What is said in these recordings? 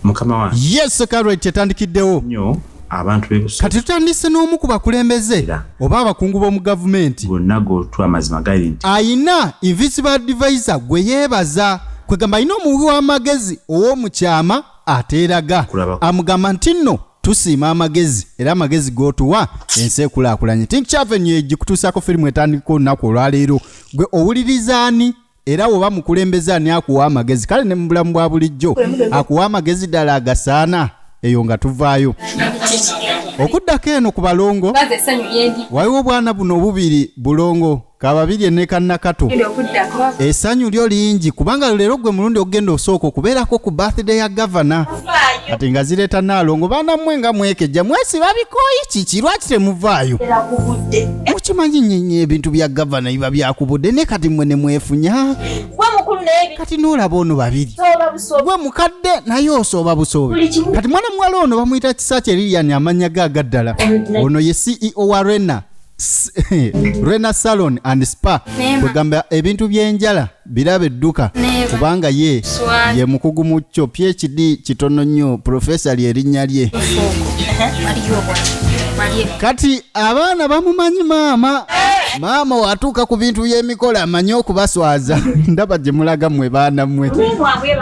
mukama wange yes security etandikiddewo nyo abantu bebusa kati tutandise n'omu ku bakulembeze oba abakungu b'omu gavumenti gonna gotwa amazima gali nti ayina invisible advisor gwe yeebaza kwegamba alina omuwi w'amagezi ow'omu kyama ateeraga amugamba nti nno tusiima amagezi era amagezi gotuwa ensi ekulaakulanye tinkyavenyo egikutuusaako firimu etandika olunaku olwaleero gwe owulirizaani era woba mukulembeze ani akuwa amagezi kale ne mu bulamu bwa bulijjo akuwa amagezi ddala agasaana eyo nga tuvaayo okuddako eno ku balongo waliwo obwana buno obubiri bulongo kababiri enekanakato esanyu lyo lingi kubanga leero gwe mulundi okugenda osooka okubeerako ku birthday ya gavana kati nga zireeta naalongo baana mmwe nga mwekejja mwesiba bikooyi kiki lwaki temuvaayo mukimanyi nyenye ebintu bya gavana biba byakubudde ne kati mmwe ne mwefunya kati n'olaba ono babiri gwe mukadde naye osooba busoobi kati mwana muwala ono bamuyita kisakye lilian amannya ge agaddala ono ye ceo wa rena S- rena salon and spa kwegamba ebintu by'enjala birabe dduka kubanga ye ye mukugu mu kyo phd kitono nnyo purofesa lye erinnya lye kati abaana bamumanyi maama maama watuuka ku bintu by'emikolo amanyi okubaswaza ndaba gye mulaga mwe baana mwe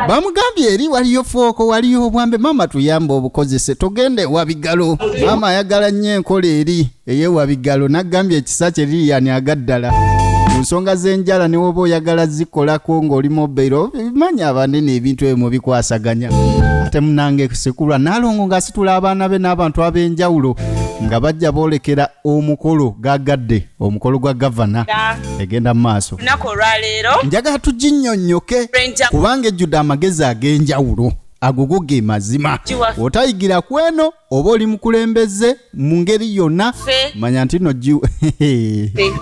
bamugambye eri waliyo fooko waliyo obwambe maama tuyambe obukozese togenda ewa bigalo maama ayagala nnyo enkola eri eyewa bigalo nagambye ekisa kye liliyani agaddala ku nsonga z'enjala ne woba oyagala zikolako ng'oli mobairo manya abanene ebintu ebyo mubikwasaganya ate munange sikulwa nalongo ng'asitula abaana be n'abantu ab'enjawulo nga bajja boolekera omukolo gagadde omukolo gwa gavana egenda mu maaso lunaku olwaleero njagala tuginnyonnyoke Ranger. kubanga ejjudde amagezi ag'enjawulo agogo ge mazima Giwa. otayigira ku eno oba oli mukulembeze mu ngeri yonna manya nti no gi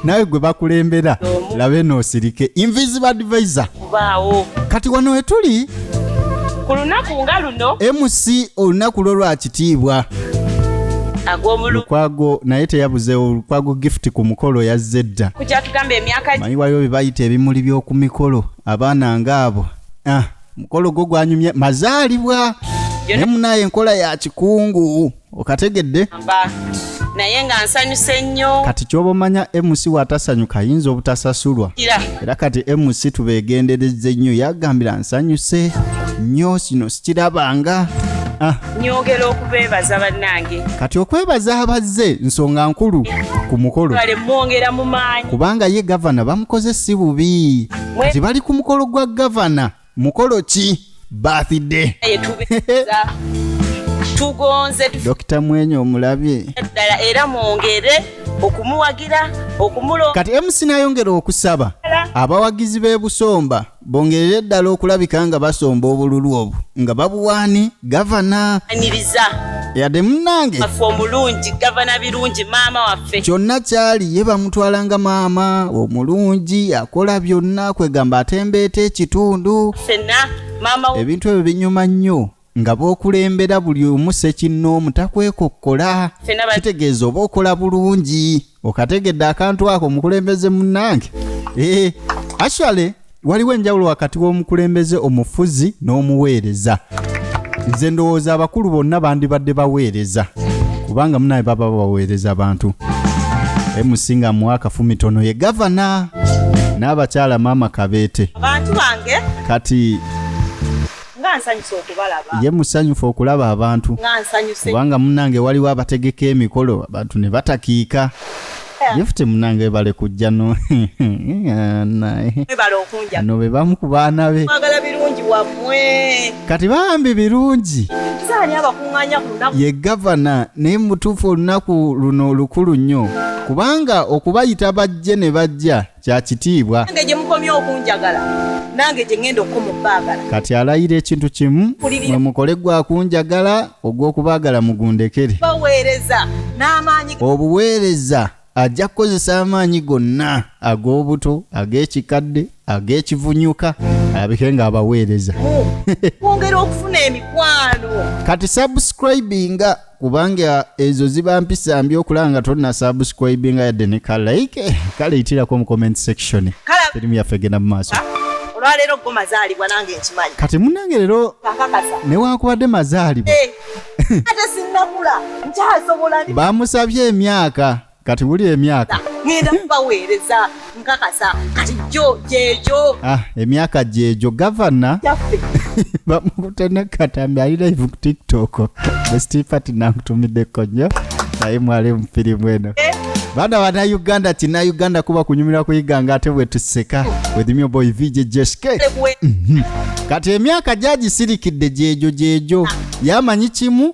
nawe gwe bakulembera labe noosirike invisible advisor kati wano wetuli ku lunaku nga luno mc olunaku lwo lwakitiibwa lukwago naye teyabuzeewo lukwago gift ku mukolo yazze dda manyi waliwo bye bayita ebimuli by'oku mikolo abaana ng'abo ah. mukolo gwo gwanyumye mazaalibwa ne munaye enkola ya kikungu okategedde naye nga nsanyuse nnyo kati kyoba omanya mc watasanyuka ayinza obutasasulwa era kati mc tubegendereza ennyo yagambira nsanyuse nnyo kino sikirabanga ah. nyongera okubebaza bannange kati okwebaza abazze nsonga nkulu ku mukolo mwongera mu maanyi kubanga ye gavana bamukoze si bubi nti bali ku mukolo gwa gavana mukolo ki birthday tugonze dokita mwenye omulabye ddala era mwongere okumuwagira okumulonda kati mc nayongera okusaba abawagizi b'e busomba bongerere ddala okulabika nga basomba obululu obwo nga babuwaani gavana aniriza yadde munange affe omulungi gavana birungi maama waffe kyonna kyali ye bamutwala nga maama omulungi akola byonna kwegamba atembeeta ekitundu ffenna maama wo ebintu ebyo binyuma nnyo nga b'okulembera buli omu sekinnoomu takwekokkola Ffenna ba- kitegeeza oba okola bulungi okategedde akantu ako omukulembeze munnange eh, actually waliwo enjawulo wakati w'omukulembeze omufuzi n'omuweereza nze ndowooza abakulu bonna bandibadde baweereza kubanga munaye baba baweereza abantu emusinga muwa akafumitono ye gavana n'abakyala maama kabeete kati nga nsanyuse okubalaba ye musanyufu okulaba abantu nga nsanyuse kubanga munange waliwo abategeka emikolo abantu ne batakiika gifuti munange bale kujja no no be bamu ku baana be kati bambi birungi ye gavana naye mutuufu olunaku luno lukulu nnyo kubanga okubayita bajje ne bajja Kya kitiibwa. Nange gye mukomye okunjagala, nange gye ŋŋenda okukoma okubaagala. Kati alayira ekintu kimu, mwe mukole gwa kunjagala, ogw'okubaagala mugundekere. Baweereza n'amaanyi. Obuweereza, ajja kukozesa amaanyi gonna, ag'obuto, ag'ekikadde, ag'ekivunyuka, alabike ng'abaweereza. Mu kwongera okufuna emikwano. Kati subscribinga. kubanga ezo ziba mpisa mbi okulaba nga tonna subscribinga yadde ne ka like eh, kale itirako mu comment section firimu yaffe egenda mu maaso ah, olwaleero go mazaalibwa nange nkimanyi kati munange leero newankubadde mazaalibwa eh, ate sinnakula nkyasobola bamusabye emyaka kati wuli emyaka ngenda kubaweereza nkakasa kati gyo gyegyo ah, emyaka gyegyo gavana gyaffe bamukute ne katambi ali live ku tiktok bestifati nankutumiddeko nnyo naye mwali mu firimu eno Eh, baana banauganda kinauganda kuba kunyumira kuyiga nga ate bwetuseka wedhimyo boy vj jsk kuwe- kati emyaka gyagisirikidde gyegyo gyegyo yamanyi kimu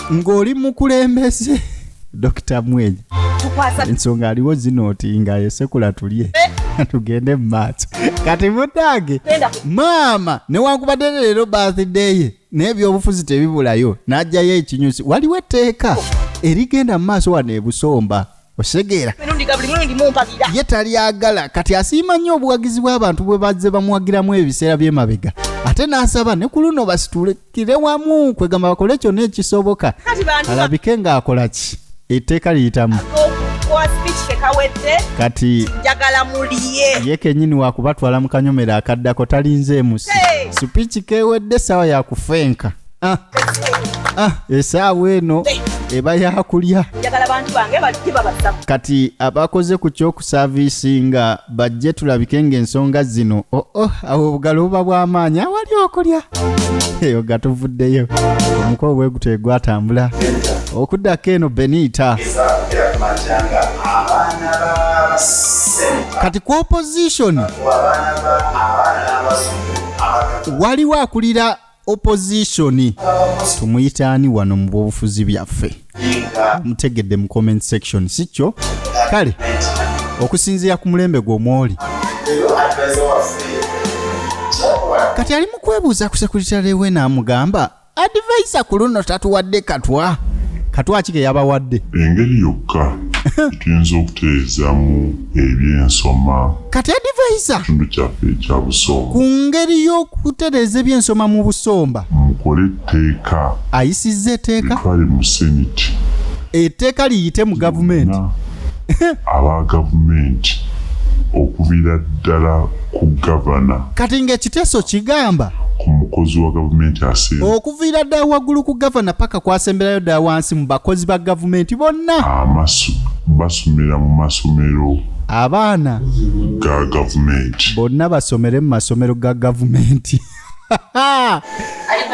ng'oli mukulembeze dokita mwenyi ensonga aliwo zino oti nga yesekula tulye eh. tugende mu maaso kati mutange maama newankubadde leero birthday ye naye ebyobufuzi tebibulayo n'ajjayo ekinyusi waliwo etteeka erigenda mu maaso wano ebusomba okitegeera ye talyagala kati asiima nnyo obuwagizi bw'abantu bwe bazze bamuwagiramu ebiseera by'emabega ate n'asaba ne ku luno basitulekire wamu kwegamba bakole kyonna ekisoboka alabike ng'akola ki etteeka liyitamu kati ye kenyini wakubatwala mu kanyomero akaddako talinze emusi sipiiki kewedde essaawa yakufenka Ah, ah, esaawa eno eba yakulya kati abakoze ku kyokusaviisinga bajje tulabike ng'ensonga zino oh, oh, awo obugalo buba bw'amaanyi awali okulya eyo nga tuvuddeyo omuko obweguto egwatambula okuddako eno beniita kati ku opposition waliwo akulira opposition tumuyita ani wano mu bwobufuzi byaffe mutegedde mu comment section si kyo kale okusinziira ku mulembe gw'omwoli kati ali mu kwebuuza ku sekuritale we n'amugamba advaisa ku luno tatuwadde katwa katwa ki ke yabawadde engeri yokka etuyinza okutereezaamu eby'ensoma kati adivaiza kitundu kyaffe ekya busomba ku ngeri y'okutereeza eby'ensoma mu busomba mukole etteeka ayisizza eteeka etwale mu seniti eteeka liyite mu gavumenti aba gavumenti okubira ddala ku gavana kati ng'ekiteeso kigamba ku mukozi wa gavumenti asemba okuviira ddala waggulu ku gavana paka kwasemberayo ddala wansi mu bakozi ba gavumenti bonna amasu basomera mu masomero abaana ga gavumenti bonna basomere mu masomero ga gavumenti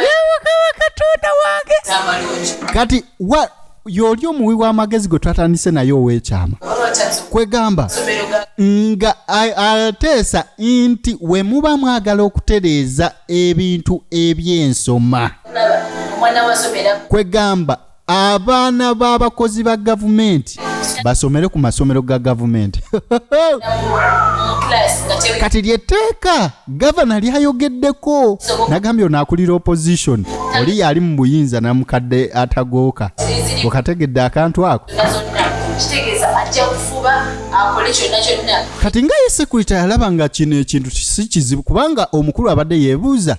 yewakaba katonda wange kati wa yooli omuwi w'amagezi gwe twatandise naye ow'ekyama kwegamba nga ateesa nti we muba mwagala okutereeza ebintu eby'ensoma kwegamba abaana b'abakozi ba gavumenti basomere ku masomero ga gavumenti kati lyetteeka gavana lyayogeddeko nagambye ono akulira opposition oli yaali mu buyinza namukadde atagooka okategedde akantu ako kati nga ye sekurita yalaba nga kino ekintu si kizibu kubanga omukulu abadde yebuuza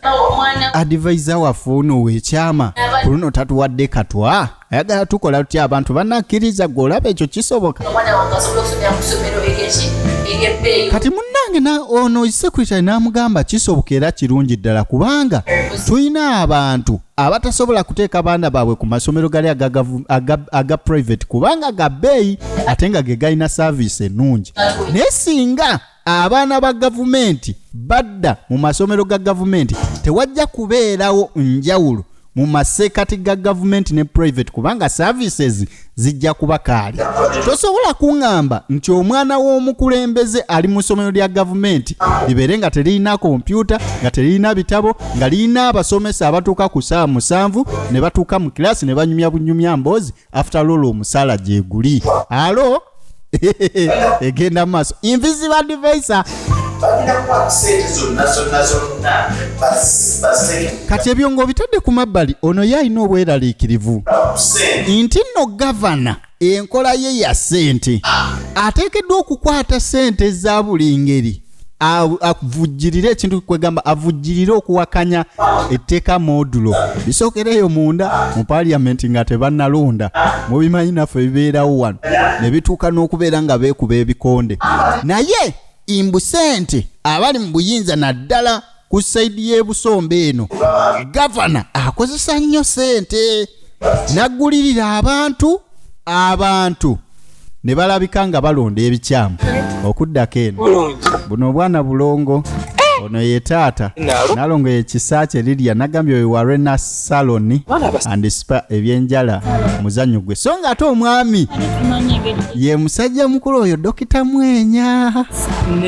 adivaiza waffe ono wekyama ku luno tatuwadde katwa ayagala tukola tutya abantu banakkiriza gwe olaba ekyo kisoboka kati munange ono sekurita namugamba kisoboka era kirungi ddala kubanga tulina abantu abatasobola kuteeka baana baabwe ku masomero gali aga private kubanga ga bbeeyi ate nga ge galina saaviisi ennungi naye singa abaana ba gavumenti badda mu masomero ga gavumenti tewajja kubeerawo njawulo mu maseekati ga gavumenti ne private kubanga services zijja kuba kaali tosobola kuŋŋamba nti omwana w'omukulembeze ali mu ssomero lya gavumenti libeere nga teririna kompyuta nga teririna bitabo nga lirina abasomesa abatuuka ku ssaawa musanvu ne batuuka mu kiraasi ne banyumya bunyumya mboozi after lolo omusaala gyeguli alo egenda maaso invisible advisor kati ebyo ng'obitadde ku mabbali ono ye alina obweraliikirivu nti nno gavana enkola ye ya ssente ateekeddwa okukwata ssente za buli ngeri avujjirire ekintu kwegamba avujjirire okuwakanya etteeka modulo bisookereeyo munda mu paliamenti nga tebannalonda mubimanyi naffe bibeerawo wano ne bituuka n'okubeera nga beekuba ebikonde naye imbusente abali mu buyinza naddala ku sayidi y'ebusomba eno gavana akozesa nnyo sente naggulirira abantu abantu ne balabika nga balonda ebikyamu okuddako eno buno obwana bulongo eh! ono ye taata nalongo ye kisa kye lirya nagambye oyo wa renas salon and spa ebyenjala muzanyo gwe so nga ate omwami ye musajja mukulu oyo dokita mwenya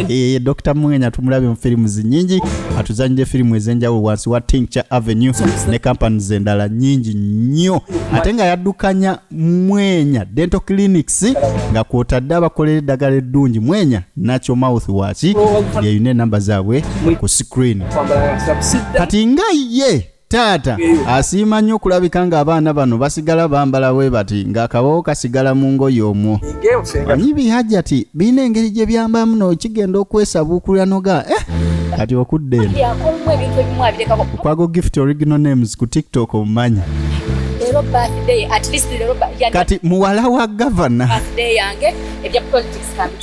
eye eh, dokita mwenya tumulabye mu firimu zinyingi atuzanyire firimu ezenjawulo wansi wa tincture avenue ne companies endala nyingi nnyo ate nga yaddukanya mwenya dental clinics nga kwotadde abakolera eddagala eddungi mwenya nakyo mouth waki yeyina enamba zaabwe ku screen kati nga ye Taata asiima nnyo okulabika ng'abaana bano basigala bambala bwe bati ng'akabawo kasigala mu ngoye omwo. Ani bihajjati birina engeri gye byambamu n'okigenda okwesabuukulira noga eh, kati okudda eno. Okwago gift original names ku TikTok omumanyi. Kati muwala wa gavana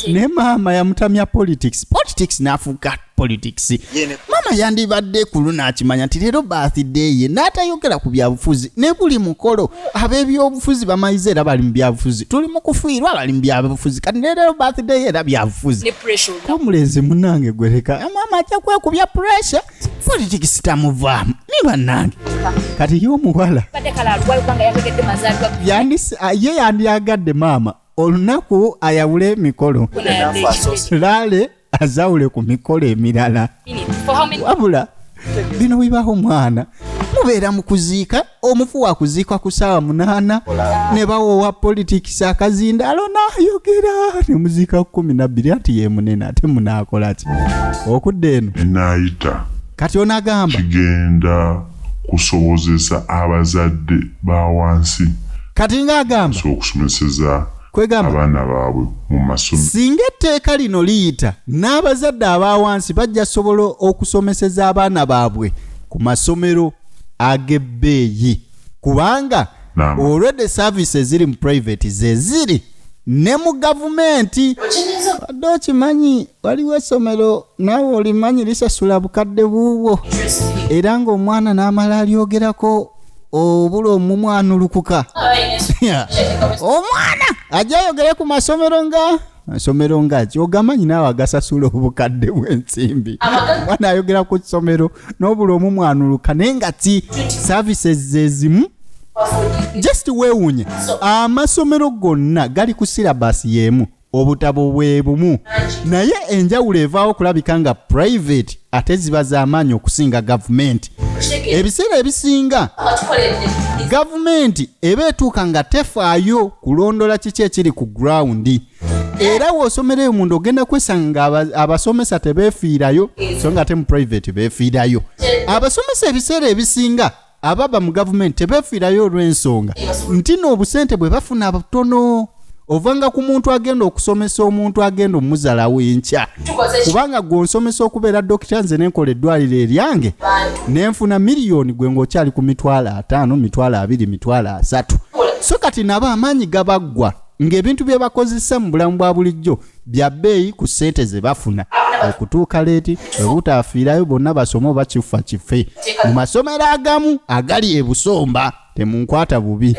ne maama yamutamya politics politics n'afuuka politics mama yandibadde ku luno akimanya nti leero birthday ye n'atayogera ku byabufuzi ne buli mukolo ab'ebyobufuzi bamayize era bali mu byabufuzi tuli mu kufiirwa bali mu byabufuzi kati ne leero birthday ye era byabufuzi komulenzi munange gwereka mama ajja kwekubya pressure politics tamuvaamu ni bannange kati ye omuwala ah, ye yandyagadde maama olunaku ayawule emikolo laale azawule ku mikolo emirala wabula bino bibaho omwana mubeera mu kuziika omufu wakuziikwa ku saawa munaana ne bawowa politics akazinda alona ayogera ne muziika ku kumi nabbiri anti ye munene ate munaakola ki okudda eno enaayita kati onagamba kigenda kusobozesa abazadde ba wansi kati ng'agamba okusomeseza kwegamba abaana baabwe mu masomero. Singa etteeka lino liyita, n'abazadde aba wansi bajja sobola okusomeseza abaana baabwe ku masomero ag'ebbeeyi kubanga already service eziri mu private ze ziri ne mu gavumenti. Wadde okimanyi waliwo essomero naawe olimanyi lisasula bukadde buubwo era ng'omwana n'amala alyogerako obula omumwana olukuka omwana ajja ayogere ku masomero nga masomero nga ki ogamanyi naawe agasasula obukadde bw'ensimbi mwana ayogera ku kisomero n'obula omumwana oluka naye nga ti services zezimu just weewuunye amasomero gonna gali ku sirabasi y'emu obutabo bwe bumu naye enjawulo evaawo kulabika nga private ate ziba z'amaanyi okusinga gavumenti ebiseera ebisinga gavumenti eba etuuka nga tefaayo kulondola kiki ekiri ku gurawundi era w'osomera eyo munda ogenda kwesanga nga abasomesa tebeefiirayo so nga ate mu private beefiirayo abasomesa ebiseera ebisinga ababa mu gavumenti tebefiirayo olw'ensonga nti n'obusente bwe bafuna butono ovanga ku muntu agenda okusomesa omuntu agenda omuzalawo enkya kubanga gwe onsomesa okubeera dokita nze nenkola eddwaliro eryange nenfuna miliyoni gwe ngaokyali ku mitwalo ataano mitwalo abiri mitwalo asatu so kati nabo amaanyi gabaggwa ng'ebintu bye bakozesa mu bulamu bwa bulijjo bya bbeeyi ku ssente ze bafuna okutuuka leeti obutaafiirayo bonna basome oba kifa kife mu masomero agamu agali ebusomba temunkwata bubi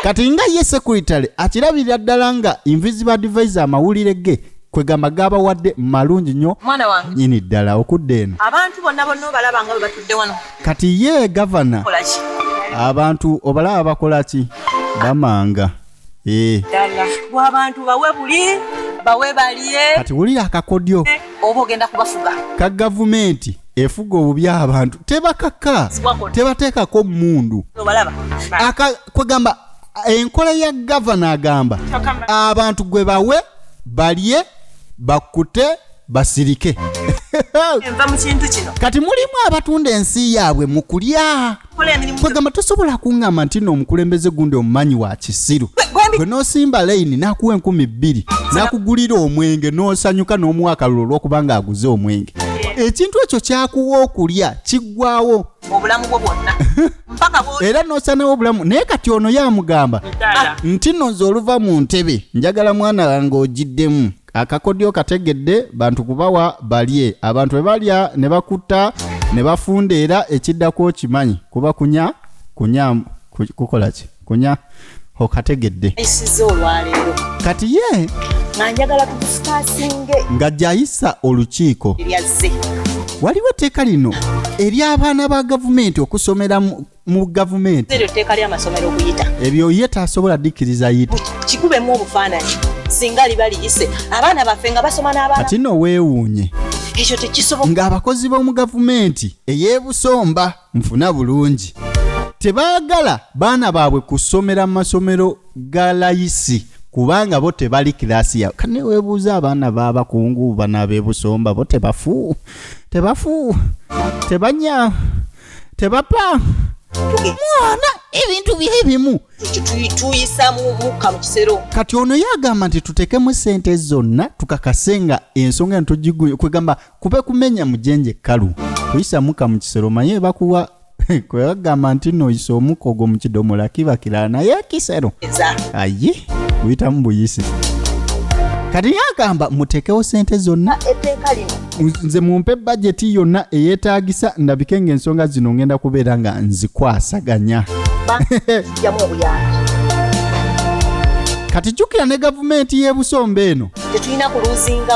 kati nga ye sekuritale akirabirira ddala nga invisible advise amawulire ge kwegamba gabawadde malungi nyo nyini ddala okudda eno kati ye gavana abantu obalaba bakola ki bamanga eh. bwabantu bawe buli bawe balye kati wulira akakodyo eh, oba ogenda kubafuga ka gavumenti efuga obubi abantu tebakaka tebateekako mundu kwegamba enkola ya gavana agamba abantu gwe bawe balye bakute basirike kati mulimu abatunda ensi yaabwe mu kulya kwegamba tosobola kungamba nti no omukulembeze gundi omumanyi wa kisiru gwe nosimba layini nakuwa enkumi bbiri nakugulira omwenge nosanyuka n'omuwa akalulu olwokuba nga aguze omwenge ekintu ekyo kyakuwa okulya kiggwawo obulamu bwo bwonna era nosanawo obulamu naye kati ono yamugamba nti no nze oluva mu ntebe njagala mwana wange ogiddemu Akakodyo kategedde bantu kubawa balye abantu ebalya ne bakutta ne bafunda era ekiddako okimanyi kuba kunya kunya kukola ki kunya okategedde kati ye nga gyayisa olukiiko waliwo etteeka lino ery'abaana ba gavumenti okusomeramu mu gavumenti eryo tteeka ly'amasomero okuyita ebyo ye tasobola dikkiriza yita kikubemu obufaananyi singa liba liyise abaana baffe nga basoma n'abaana kati no weewuunye ekyo tekisoboka ng'abakozi b'omu gavumenti ey'ebusomba nfuna bulungi tebaagala baana baabwe kusomera mu masomero ga layisi kubanga bo tebali kiraasi yawe kane weebuuza abaana b'abakungu bana ab'ebusomba bo tebafu tebafu tebanya tebapa mwana ebintu bye ebimu tuyisa mukka mu kisero kati ono yagamba nti tutekemu sente zonna tukakase nga ensonga eno tugiguye kwegamba kube kumenya mujenje kalu kuyisa mukka mu kisero manye bakuwa kwebagamba nti noyisa omukka ogwo mu kidomola kiba kirala naye ekisero aye guyitamu buyisi kati yagamba mutekewo sente zonna etteeka lino nze mumpe bajeti yonna eyetaagisa ndabike ng'ensonga zino ngenda kubeera nga nzikwasaganya kati jjukira ne gavumenti y'ebusomba eno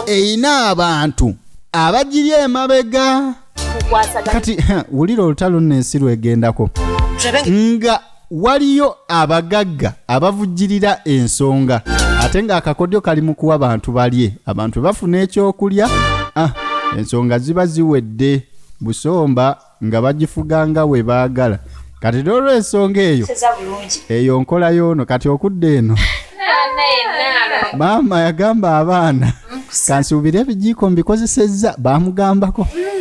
erina abantu abagiri emabega kati wulira olutalo nno ensi lwegendako nga waliyo abagagga abavujjirira ensonga ate ng'akakodyo kali mu kuwa bantu balye abantu bafuna ekyokulya ah, ensonga ziba ziwedde busomba nga bagifuga nga we baagala kati n'olwensonga eyo eyo nkola yoono kati okudda eno maama yagamba abaana kansuubire ebijiiko mbikozesezza baamugambako hmm.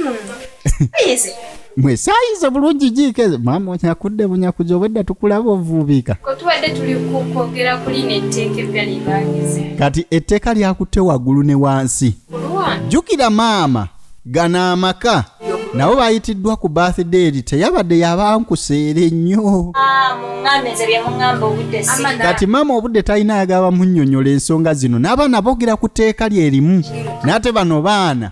mwesaayize bulungi jiika ezo maama onyakudde bunyakuzi obwedda tukulaba ovuubiika tubadde tuli kwogera ku lino etteeka eppya libangize kati etteeka lyakutte waggulu ne wansi jjukira maama gana amaka nabo bayitiddwa ku birthday eri teyabadde yabankuseere nnyo ah, kati maama obudde talina ayagala bamunyonyola ensonga zino n'abaana boogera ku tteeka lye limu n'ate bano baana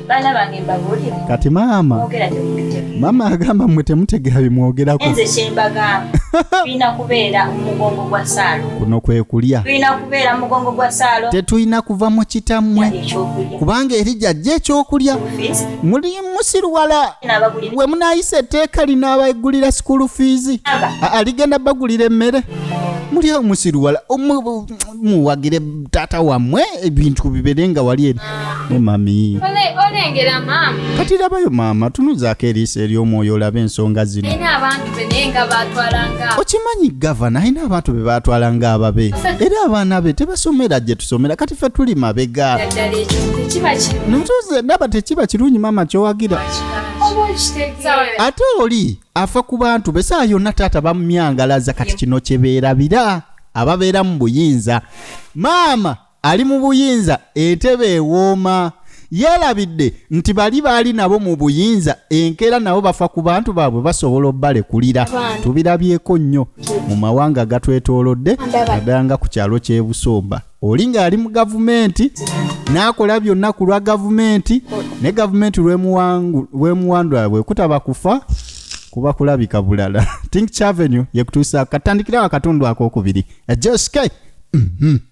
baana bange mbabuulire kati maama mwogera temutegera maama agamba mwe temutegera bimwogerako enze kyembagamba tulina kubeera omugongo gwa saalo kuno kwe kulya tulina kubeera mugongo gwa saalo tetulina kuva mu kitammwe ekyokulya kubanga eri jajja ekyokulya Fees, muli musiruwala n'abagulira we munayisa etteeka linaabagulira sikulu fiizi aba A- aligenda bagulira emmere muli omusiruwala omu- muwagire taata wammwe ebintu bibere nga wali eri ne mami olengera maama kati labayo maama tunuzaako eriiso ery'omwoyo olabe ensonga zino alina abantu be naye nga baatwalanga okimanyi gavana alina abantu be baatwala nga ababe era abaana be tebasomera gye tusomera kati ffe tuli mabega ddala ekyo tekiba kiba notuze ndaba tekiba kirungi maama kyowagira oba okitegeera ate oli afa ku bantu be saa yonna taata bamumyangalaza kati kino kyebeerabira ababeera mu buyinza maama ali mu buyinza entebe ewooma yeerabidde nti bali baali nabo mu buyinza enkeera nabo bafa ku bantu baabwe basobola obbalekulira tubirabyeko nnyo mu mawanga agatwetoolodde naddala nga ku kyalo ky'e busomba oli ng'ali mu gavumenti n'akola byonna ku lwa gavumenti ne gavumenti lwemuwandula bwekutaba kufa kuba kulabika bulala think chavenue yekutuusa katandikirawo akatundu akokubiri ejoske mm -hmm.